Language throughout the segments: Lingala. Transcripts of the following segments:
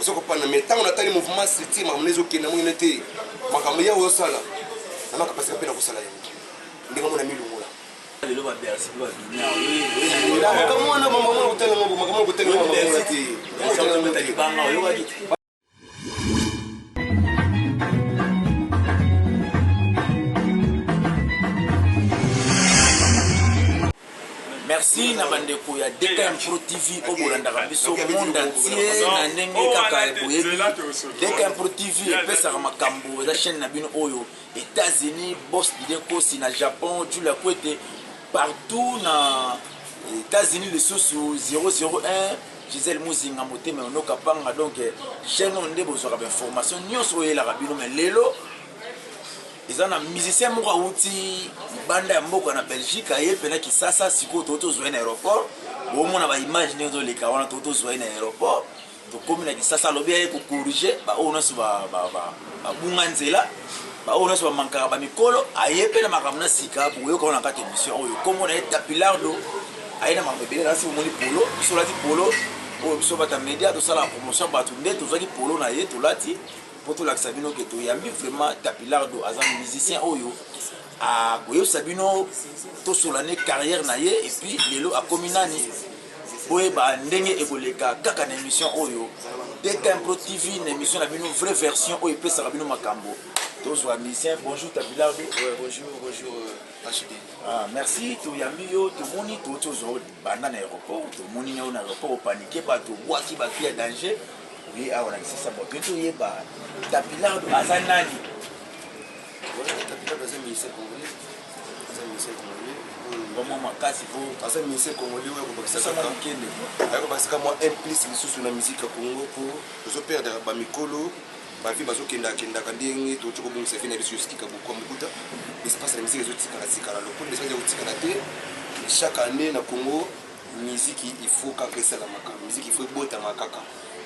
oza kopanda me ntango natali mouvement structure makambo nde ezokende namoni nde te makambo yawe osala na makapasika mpe nakosala yango ndenge mona milongola makambo wana makambo wana kotalango makambo wana kotalango te merci na bandeko ya dkm pro tv oyo bolandaka biso monde entier na ndenge kaka boyebi dkm pro tv epesaka makambo eza chaîne na bino oyo états-unis bos didekosi na japon julia kwete partout na états-unis lisusu 001 Gisèle muzinga motema eunoko kapanga donc chaine oyo nde bozwaka ba information nionso oyo eyelaka bino mais lelo eza na musicien moko awuti libanda ya mboka na belgique aye mpe na kisasa sikoyo toyoti ozwa ye na aéroport bomona ba image nde ezoleka wana toyoti ozwa ye na aéroport tokomi na kisasa alobi aye kocorrige baoyo nyonso ba, ba, ba babunga nzela baoyo nyonso bamankaka bamikolo aye mpe na makambo na sika bokoyoka wana na kati émission oyo nkombo na ye tapilardo aye na makambo ebele nasi omoni polo biso olati polo oyo biso bata media tosalaka promotion bato nde tozwaki polo na ye tolati mpo tolakisa bino ke toyambi vraiment tapilardo aza musicien oyo akoyebisa bino tosola ne carrière na ye epuis lelo akomi nani boyeba ndenge ekoleka kaka na emission oyo DK Impro TV na emission na bino vraie version oyo epesaka bino makambo tozwa musicien bonjour tabilardo ouais, bonjour bonjour euh, HD ah, merci toyambi yo tomoni touti ozwa banda na aéroport tomoni nao na aéroport opanike bato obwaki bato ya danger oye awa na kisasa bato toyeba tabilardo aza nani tabilardo aza ministre congolais vraiment makasi po aza musicien congolais oyo akobakisaka mwa implice lisusu na musike ya congo po tozo perdre bamikolo bavi bazokendakendaka ndenge touti kobongisa vi na biso yosikika bokwa mokuta espace na musike ezotikalatikala lokola espace ekotikala te chaque année na congo miziki ifo kaka esalamaka miziki ifo ebotama kaka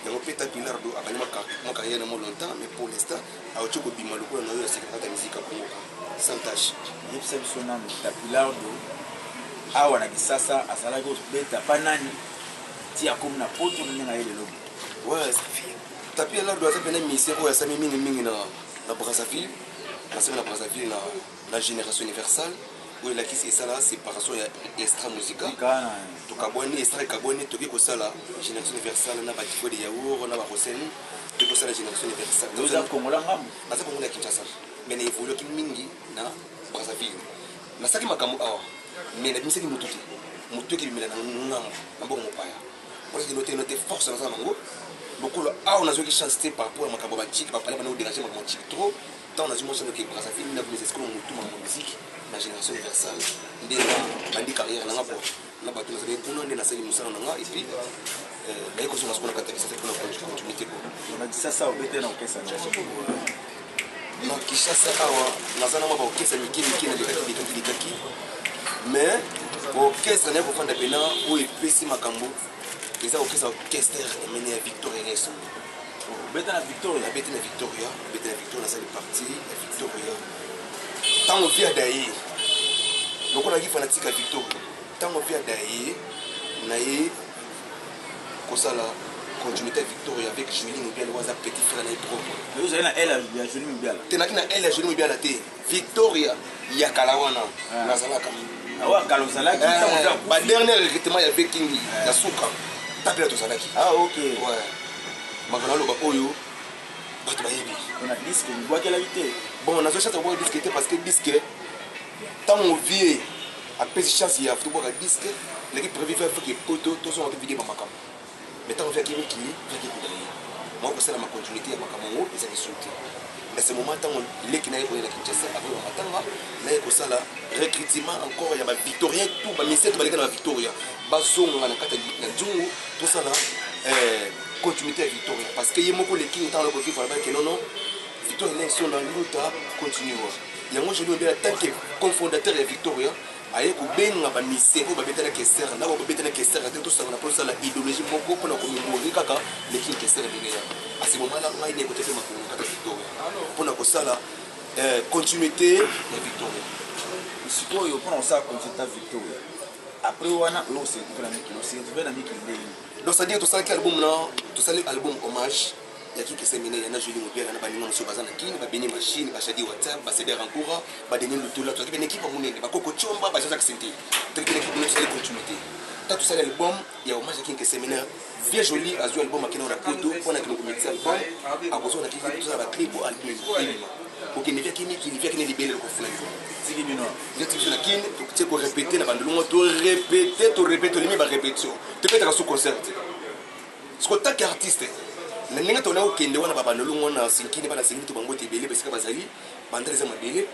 yango mpe ta pilardo abandi makarriere na mo longtemps mais pour l'instant auti kobima lokola na oyo aseka kaka mizika kongoka sans tache yebisa biso nanu tapilardo awa na kisasa azalaki kobeta pa nani ti akomi na poto na ndenge aye lelo tapilardo aza pene mise oyo asami mingimingi na brazzaville asami na brazzaville na La generation universal oyo elakisi esala separation ya estra musica tokabwani estra ekabwani toki kosala generation universal na bativo de yaour na barosene toki kosala generation universal naza kongola ya kinshasa me na evoluaki mingi na brazzaville nasaki makambo awa me nabimisaki motu te motu ekebimela na ngambo na mbongo mopaya onoteinote force naza na yango lokola awa nazoki chance te par rapport ya makambo baciki bapale bana oderange makambo ciki trop Tango nazui mosano ke Brazzaville na bimisa sikoyo motu ma musique na generation universale nde na bandi carrière nanga po na bato nazali kuna nde nasali mosala na nga et puis euh, naye kozonga sikoyo na katakisa te pona continuité po na disasa obete na okesa na kishasa awa naza na mwa baokesa mike mike nalekakilekakilekaki mais orchestre naye kofanda mpena oyo epesi makambo eza orchestre orchestre emene ya victor ereso Beta na Victoria, beta na Victoria, beta na Victoria, c'est parti na Victoria. Tango via daye. Lokola ki fanatique ya Victoria. Tango via daye na ye kosala continuité ya Victoria avec Julie Mubiala waza petit frère na ye propre. Mais ozali na elle ya Julie Mubiala. Tenaki na elle ya Julie Mubiala te. Victoria ya kala wana nazalaka awa kala ozalaki ba dernier recrutement ya Vikingi ya suka tapela tozalaki ah ok ouais makana loba oyo bato bayebi na disque libwakelaki te bon nazo chance abwaka disque te parce que disque ntango vie apesi chance ya tobwaka disque eleki prévu fa foki poto tozonga te video bamakambo Mais tant via kemi kili via ki kuda ye. Moi ko sala ma continuité ya makambo yango eza lisusu te. Mais ce moment tango leki na ye ko ya na Kinshasa après ba matanga na ye ko sala recrutement encore ya ba Victoria tout ba misetu ba leka na ba Victoria ba zonga na kata na Nzungu to sala euh, continuité ya Victoria parce que ye moko leki tango ko vivre là-bas que non non Victoria Nelson na luta continue. Yango je lui ai dit en tant que cofondateur ya Victoria Aye kobenga ba musiciens oyo babeta na kester na oyo babeta na kester te tosangana mpo tosala ideologie moko mpo na ko memorer kaka le king kester ebeneya asi bomana ngai na ekote mpe makolo kaka victoria mpo na kosala continuité ya victoria sikoyo mpo na kosala continuité ya victoria après wana oyo oseretrouve na mikili oseretrouve na mikili ndenge donc c'est à dire tosalaki album na tosali album hommage ya kiki seminaire na Julie Mobela na baninga mosusu baza na Kin, ba Beni Machine, ba Shadi WhatsApp, ba Ceder Ankura, ba Denis Lutula, tozalaki na ekipe monene, ba Koko Chomba, ba Jacques Sente. Tozalaki na ekipe monene tosali continuité. Ta tosali album ya hommage ya Kinke seminaire. Vieux Jolie azwi album akenda na Poto mpo na kino komikisa album, akozwa na kiki tosala ba clip po album ebima. Kokende via Kini, Kini via Kini libele lokofuna yo. Tiki bino. Via Tiki na Kin, tokotse ko répéter na bandulungo, to répéter, to répéter, tolimi ba répétition. Topetaka sous concert te. Sikoyo tant que artiste na ndenge tona kokende wana ba bandolongo wana sinkini bana sinkini to bambote ebele basika bazali bandal eza mabele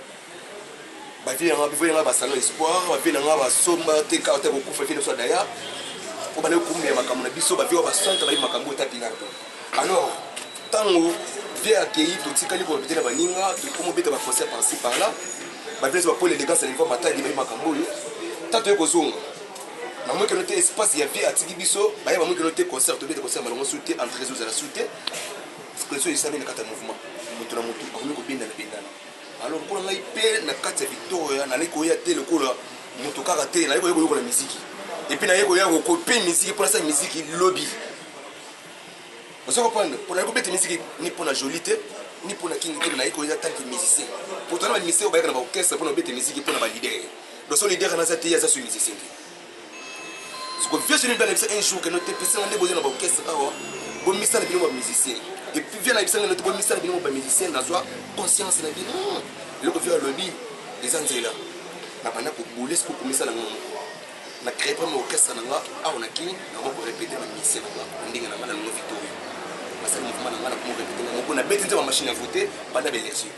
bavie na nga bivie na nga ba salon espoir bavie na nga basomba te kaka te kokufa vie na biso daya oyo bandaki koumela makambo na biso bavie wa basante bayi makambo ota pilardo alors ntango vie akei totikali kolobete na baninga tokomobeta baconcert parci par là bavie na biso bapole elegance na niveau matadi bayi makambo oyo ntango toyei kozonga ba mwe keno te espace ya vie atiki biso ba ye ba mwe keno te concert tobeta concert malongo su te entre réseaux ala su te pression esami na kata mouvement moto na moto akomi ko benda na benda na alors pour ngai pe na kati ya victoria na leko ya te lokola moto kaka te na leko yeko yokola miziki et puis na yeko ya ko pe miziki pour sa miziki lobby ozo comprendre pour na yeko beta miziki ni pour na jolie te ni pour na king te na yeko ya tant que musicien pour toi na musicien obayaka na orchestre pour na beta miziki pour na ba leader Donc son leader anaza te aza sur les esengi. Siko vieux Johnny Blanc ebisa un jour que notre PC ngande bozo na ba orchestre awa bo misa na bino ba musiciens. Et puis vieux na ebisa ngande bo misa na bino ba musiciens na zwa conscience na bino. Eloko vieux alobi eza nzela. Na banda ko bouler siko ko misa na ngo. Na créer pas mon orchestre na nga awa na kin na ko répéter ba musiciens na nga. Ndinga na bana ngo Victoria. Basali mouvement na nga na ko répéter ngo. Ko na bête nzela machine à voter banda ba énergie.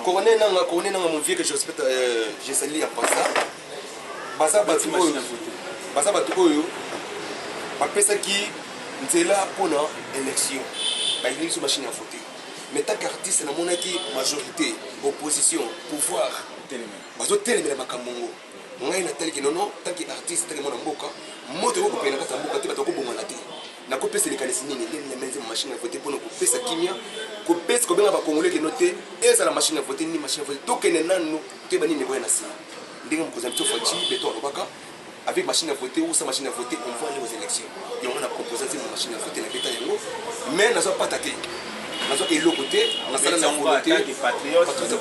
Corneille nanga corneille nanga mon vieux que je respecte euh, je salue en passant baza batu oyo baza batu oyo bapesaki nzela mpona élection bayini biso machine ya vote mais tant qu'artiste namonaki majorité opposition pouvoir bazotelemela makambo yango Ngai na tali ki non non tant que artiste tant que mwana mboka moto eko kopela kati ya mboka te bato bako bomana te na ko pesa likanisi nini nde na menzi machine ya vote pona ko pesa kimia ko pesa ko benga ba congolais ke no te ezala machine ya vote ni machine ya vote tokende nanu to ba nini ekoya na sima ndenge mokonzi ya biso Fatshi beton alobaka avec machine à voter ou sans machine à voter, on va aller aux élections. Et on a proposé une machine à voter, la bêta yango, mais n'a pas attaqué. N'a pas éloqué, n'a pas la volonté, patriote, patriote,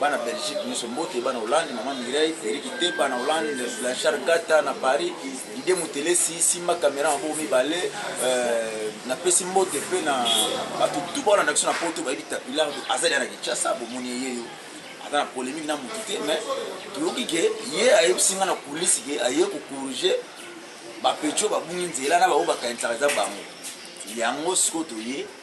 Bana Belgique nioso mbote, bana Hollande, maman Mireille, Eric Iteba na Hollande, Blanchard Gata na Paris, Didier Mutelesi, Simba Camera maboko mibale, euh, na pesi mbote pe na bato tout ba Hollande biso na poto bayebi Tapilar aza ya na Kinshasa bomoni ye yo aza na polemique na moto te mais toyoki ke ye ayebisi nga na kulisi ke aye ko corriger ba pecho babungi nzela na baoyo bakanisaka eza bango yango sikoyo toye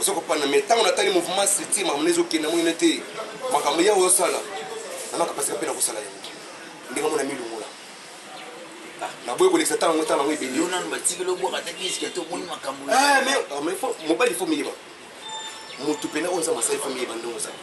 oza kopanda me ntango natali mouvement structure makambo nde ezokende amoni nete makambo yawe osala na makapasika mpe nakosala yango ndenge mona milongola ah, naboyi kolekisa ntango yango ntango yango ebele eh, mobali fo miyeba motu mpena oyo nzambe asali fo miyeba ndenge ozala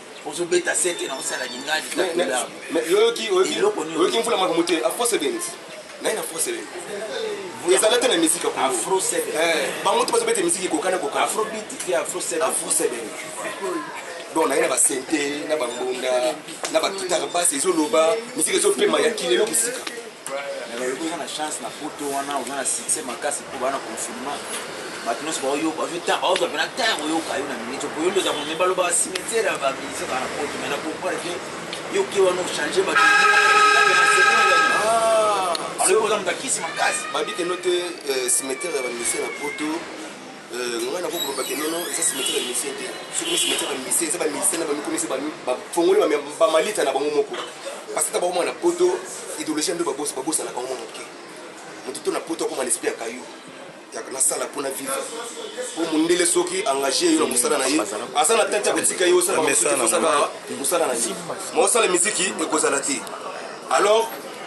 ozo beta sete na osala lingadi oyoki mvula makambo te afro sevens naye na afro sevens ezala te na misika afro sevens eh, bango te bazobeta misiki kokana kokana afro biti te afro sevens afro sevens donc naye na basente na bambonda na bakitaka basi ezoloba misika ezopema ya kilo eloko sika Mais balobi oza na chance na poto wana oza na succès makasi mpo baa na confinement bato nyonso baoyoka ozotanga ozwa mpena ntango oyoka yo na miniti okoyoli oza kome balobaka cimetière ya bamusicien kaka na poto mai na comprendre ke yoki wana ochange bato ah, alobi oza moto akisi makasi babikeno te eh, cimetière ya bamusicien na poto Euh, ngai nakoki koloba ke nono eza cimetière ya musicien te soki omi cimetière ya musicien eza bamusicien na bamikomisi bafongoli bamalita na bango moko parce que ta bakoma na poto idéologie ya nde babosanaka bango moke moto to na poto akoma na esprit ya kayo nasala mpo na vivre mpo mondele soki engage yo na mosala na ye aza na tante ya kotika ye osala mosala na ye ma osala miziki ekozala te alors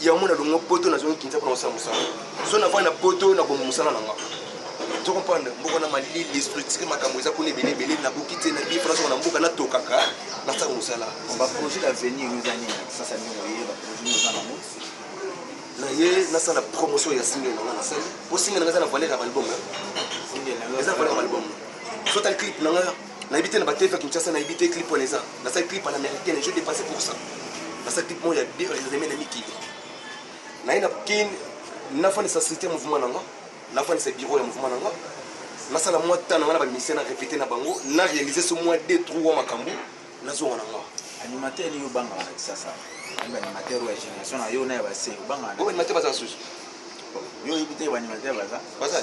Yango na longo poto na zongi kinza pona kosala mosala so na vandi na poto na bomo mosala na nga to comprendre mboka na malili l'espritike makambo eza kuna ebele ebele nakoki te na bifana soko na mboka natokaka nasala mosala baprojet d'avenir eza nini sasa ndenge oye baprojet oza nango naye nasala promotion ya single nanga nasali po single nanga eza na valeur ya balbome eza valeur ya balbome sotali clip nanga nayebi te na ba tv ya kinshasa nayebi te clip wana eza nasali clip en américaine je dépassé pour ça nasali clip moko ya bien reme na mikili naye na kin nafandisa cité mouvement na nga nafandisa bureau ya mouvement na nga nasala mwa temps na nga na bamisien na répété na bango na réalise so mwa de trois makambo nazonga na nga animateur nini obangaka na kisasa animateur oyo ya génération na yo na ya base obangaka oyo animateur baza susu yo oyebi te banimateur baza baza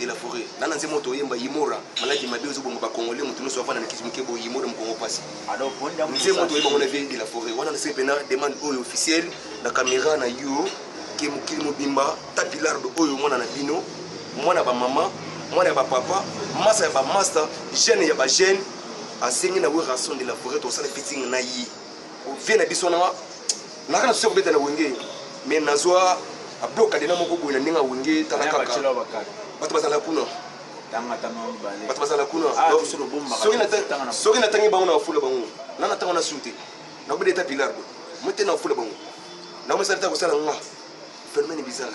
de la foret na na nzembo to yemba imora maladi mabe ozo bongo ba congolais mutu nusu avanda na kisi muke bo imora mukongo pasi nzembo to yemba ngona vie de la foret wana nse pena demande oyo officiel na camera na yo ke mokili mobimba tapilardo oyo mwana na bino mwana ba mama mwana ya ba papa masa ya ba masta jeune ya ba jeune asengi na werrason de la foret osala fitting na ye vie na biso nanga naka na soki kobeta na wenge mais nazwa abloka dena moko boye na ndenge ya wenge tala kaka bato bazala kuna bato bazala kuna ah, soki natangi bango na bafula bango na na ntango na su te nakobeta eta pilardo motena bafula bango nakomesala ta kosala nga phénomène bizarre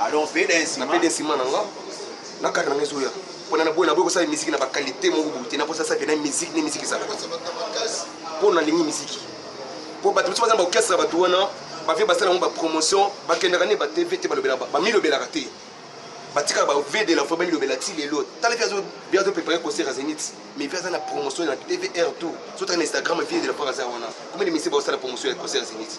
alors pede nsima na pede nsima na nga na kaka na nga ezoya mpona na boye na boye kosala miziki na bakalite moko boye te na mposa sake na miziki nde miziki ezalaka mpo nalingi miziki mpo bato mosusu baza na baorchestre ya bato wana bavie basala yango bapromotion bakendaka nde batv te balobelaka bamilobelaka te batikaka bavie de la foi bamilobela ti lelo tala vi azoprepare concert ya zenit mais vi aza na promotion na tvr tout sotaka na instagram vie de la foi aza wana komene misi baosala promotion ya concert ya zenit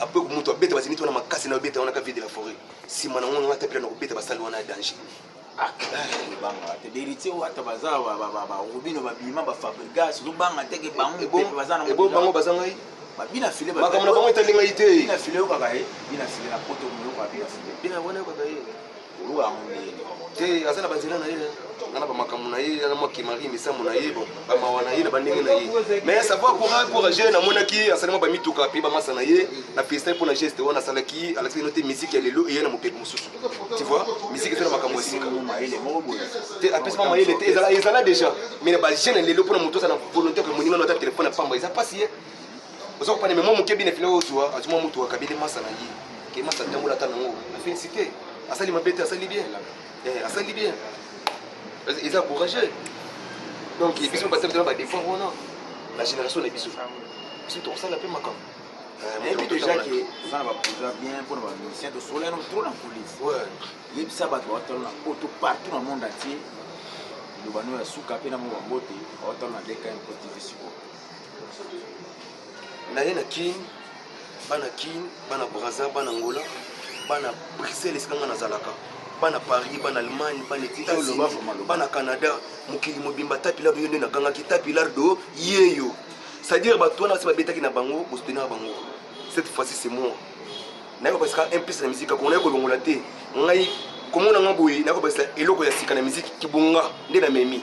Après kumuntu abeta bazimiti wana makasi na obeta wana ka vie de la forêt. Sima na ngona ata pila na kobeta basali wana ya danger. Ah, banga te beritier oyo ata baza barobino babima bafabrigas ozobanga teke bango ebongo baza na ebongo bango baza ngai babina file makambo na bango etali ngai te bina file oyokaka ye bina file na poto moyokaka bina file bina wana oyokaka ye oluka yango ndenge te aza na banzela na ye ana bamakambo na ye ana mwa kemari misambo na ye bamawa na ye na bandenge na ye mais savoir kora courage namonaki asali mwa bamituka mpe bamasa na ye na festin mpo na geste wana asalaki alakisi bino te miziki ya lelo eye na mopepe mosusu tu vois miziki eza na makambo ya sika te apesi mwa mayele te ezala deja mais na bagene lelo mpo na moto aza na volonté ya komoningano ata telefone ya pamba eza mpasi ye oza kopane me mwa moke bine file ozwa azwi mwa moto akabeli masa na ye ke masa atambola ata nango na félicité asali mabe te asali bien eh, asali bien eza courageux donc biso basali tona badefort wana na génération na biso biso tokosala mpe makambo nayebi déjà ke oza na baprojet bien mpo na bamusicien tosola yano trop na police yebisa bato bawatalo na poto partout na monde entier lobano ya suka mpe na moko yango te bawatalo na dkm tv sikoyo naye na kin bana kin bana braza bana angola bana bruxelles esika nga nazalaka bana paris bana allemagne bana etats-unis bana canada mokili mobimba tapilardo yo nde nagangaki tapilardo yeyo c'est-à-dire bato wana basi babetaki na bango bospe na bango cette fois-ci c'est moi naye kopesaka impesa na miziki kaka naye kolongola te ngai komona nga boye naye kopesa eloko ya sika na miziki kibonga nde na memi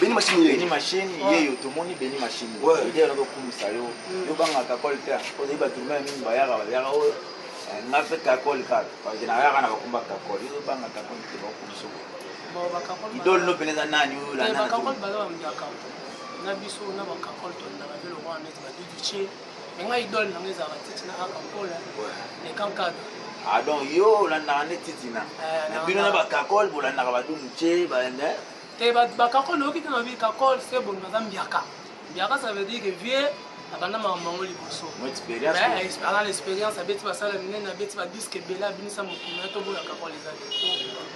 beni mashini beni mashini yeyo tomoni beni mashini idee wana kokumisa yo mm. yo banga kakol te ozayi baturma ya mingi bayaka bayaka oyo eh, nga mpe kakol kaka parce nayaka na bakumba kakol yo banga kakol te bakumisa idole no mpena eza nani oyo lanana na biso na bakakol tondaka mpe lokola neti baduduce Mais nga idole na nga ezalaka titi na aka mpola le kankada ah donc yo olandaka nde titi na eh, na bino na bakakol bolandaka badumce balende te bakakol oyoki te nabi kakol se boni baza mbiaka mbiaka ça veut dire que vieux abanda makambo yango liboso ana na expérience abeti basala minene abeti badisque ebele abinisa mokili na toboyaka koleza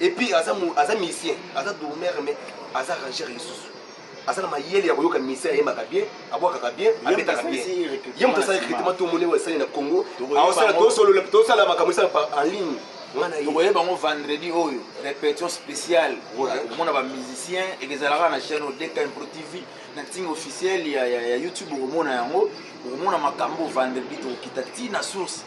et puis aza aza musicien aza dormeur mais aza ranger lisusu aza na mayele ya koyoka musicien ayembaka bien abwakaka bien abetaka bien ye moto asala recrutement to moni oyo asali na congo aosala tosolola tosala makambo esala en ligne tokoye bango vendredi oyo répétition spéciale okomona bamusicien ekezalaka na chaîne oyo dkmpro tv na ntingi officiel ya youtube okomona yango okomona makambo vendredi tokokita ti na source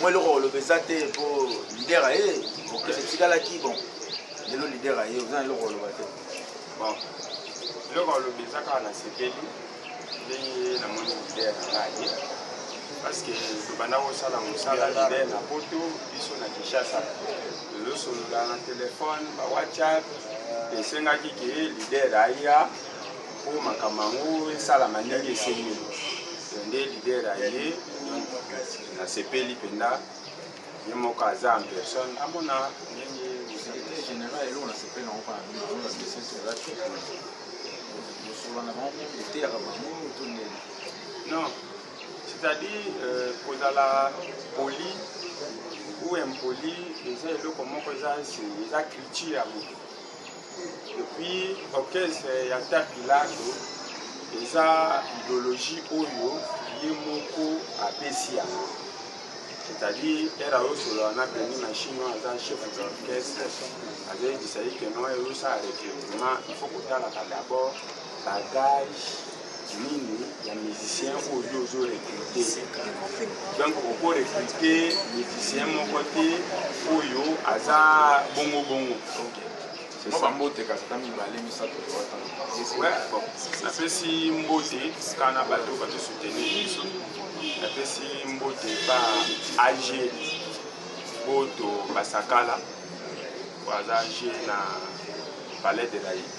mwa eloko koloba eza te mpo lider aye okese etikalaki bon lelo lider aye oza na eloko koloba te bon eloko koloba eza kaka na sepeli ndenge namoni lider na ngai ye parceke tobanda kosala mosala lider na poto biso na kinshasa tozosolola na telefone bawhatsapp esengaki ke lider aya mpo makambo yango esalama ndenge esengeli nde lider aye nasepeli mpenza ye moko aza en personne amona ndenge secrétaire général eloko nasepeli yango mpona bino yango na question toza te kosolola na bango mpe koteyaka bango to ndenge non c'est-à-dire euh, kozala poli ou impoli eza eloko moko eza eza culture ya moto epuis orchestre ya ta pilato eza ideologie oyo ye moko apesi yango c'est-à-dire ere ayosolola na beni machine oyo aza chef d'orchestre azoyebisa ye keno eyosa recrutement il faut kotalaka d'abord bagage Nini ya musicien oyo ozo recruter donc oko recruter musicien moko te oyo aza bongo bongo mwa bambote kasi ata mibale misato napesi mbote kaka na bato bato soutenir biso napesi mbote ba age boto basakala baza age na palais de la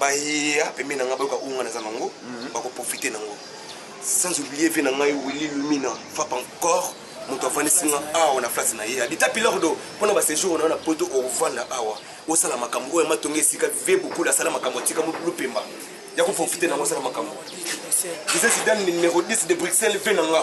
bayeya pembeni na ngai bayoka oyo ngai naza nango mhm. bakoprofite nango sans oublier vie na ngai willi lumina frappe encore moto afandisi nga awa na place na ye abita pilordo mpona basejour na yo na poto ovanda awa osala makambo oyo matongi esika vie bokula asala makambo atika lupemba ya koprofite nango osala makambo eza sida numero 10 de bruxelles ve na nga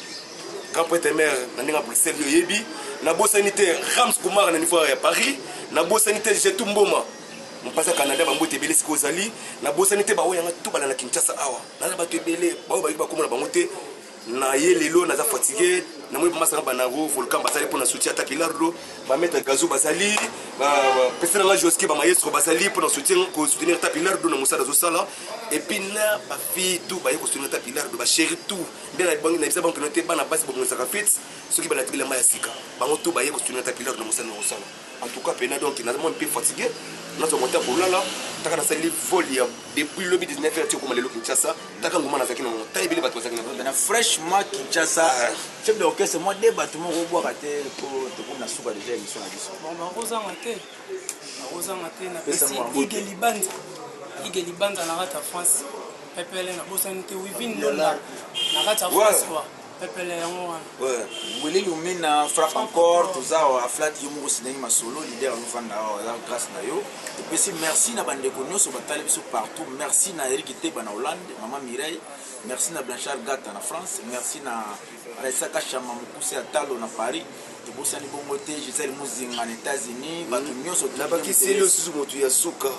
grand prêtre mère na ndenge ya bruxelles yo oyebi nabosani te rams kumar na niveau ya paris nabosani te jetu mboma mpasa canada bambote ebele sikoyo ozali nabosani te baoyo yanga tobala na kinshasa awa naza bato ebele baoyo bayebi bakoma na bango te na ye lelo naza fatigue namoni bamasanga banango volcan bazali mpo na suti ata pilardo bametre gazo bazali pese nanga joski bamaestro bazali mpo na kosoutenir ata pilardo na mosala azosala epuis na bafille tout baye kosoutenir ata pilardo basheri tout Nde na libongi nayebisa bango kino te bana basi bobongisaka fete soki balati bilamba ya sika. Bango tout baye ko soutenir tapileur na mosala nakosala. En tout cas pena donc naza mwa mpe fatigue nazwa mwa temps ya kolala taka nasaleli vol ya depuis lobi 19 heures ti okoma lelo Kinshasa taka nguma nazalaki na ngo ta ebele bato bazalaki na ngo. Na fraichement Kinshasa chef d'orchestre mwa de bato moko obwaka te po tokomi na suka deja emission na biso. Bon bakozanga te. nakozanga te napesi ige libanza ige libanza na kati ya france pepele nabosani te wivin londa na kati ya france kua pepele yango wana wele lumina frappe encore toza awa flat yo moko osindangi masolo lider alofanda awa eza grâce na yo topesi merci na bandeko nyonso batali biso partout merci na eric teba na hollande mama mireille merci na blanchard gata na france merci na Raissa Kashama, mokuse ya talo na Paris, tobosani bongo te Gisèle Muzinga na Etats-Unis, bato hmm. nyonso na bakiseli osusu moto ya suka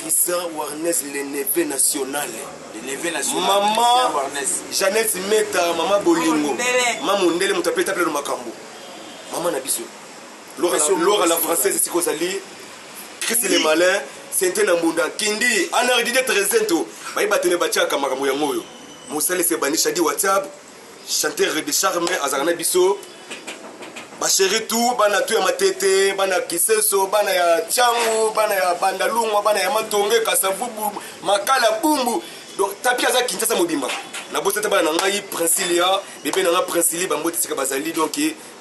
kisa Warnes le neve national mama Jeannette Meta mama Bolingo mama Mondele moto apeta pelo makambo mama na biso Laura la française siko ozali Chris le malin sente na mbunda kindi anardide tresento bayebatene batiaka makambo yango oyo mosali sebani shadi whatsapp chanteur de charme azalaka na biso basheri tu bana tu ya matete bana ya kiseso bana ya tiangu bana ya bandalungwa bana ya matonge kasavubu makala bumbu donc tapi aza kinshasa mobimba nabosata bana na ngai princilia bebe na ngai princili bambote sika bazali donc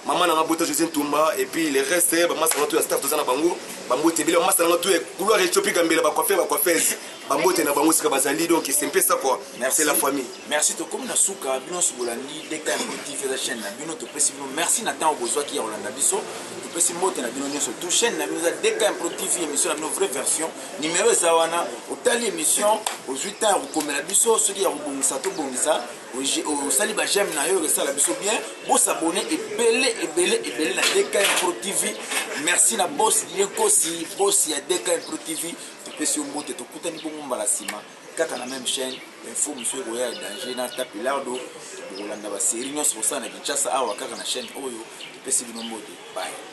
Maman nanga bota Jose Ntumba et puis les restes ba masta tout ya staff toza na bango ba mbote bile masta nanga tout ya couloir Ethiopie Gambela ba coiffeur ba coiffeuse ba mbote na bango sika bazali donc c'est un peu ça quoi c'est la famille merci to comme na suka bino subolandi DKM TV la chaîne na bino to pesi bino merci na temps bozwa ki ya Holanda biso to pesi mbote na bino nyoso tout chaîne na bino za DKM Pro TV émission na bino vraie version numéro za wana otali émission ozwi temps ya kokomela biso soki ya kobongisa to bongisa osali ba j'aime na yo esala biso bien bo s'abonner ebele ebele ebele na DKM Pro TV merci na boss Didier Kosi boss ya DKM Pro TV topesi yo mbote tokutani bongo mbala nsima kaka na même chaîne info mosusu ekoya ya danger na ta pilardo bokolanda baserie nyonso kosala na kinshasa awa kaka na chaîne oyo topesi bino mbote bye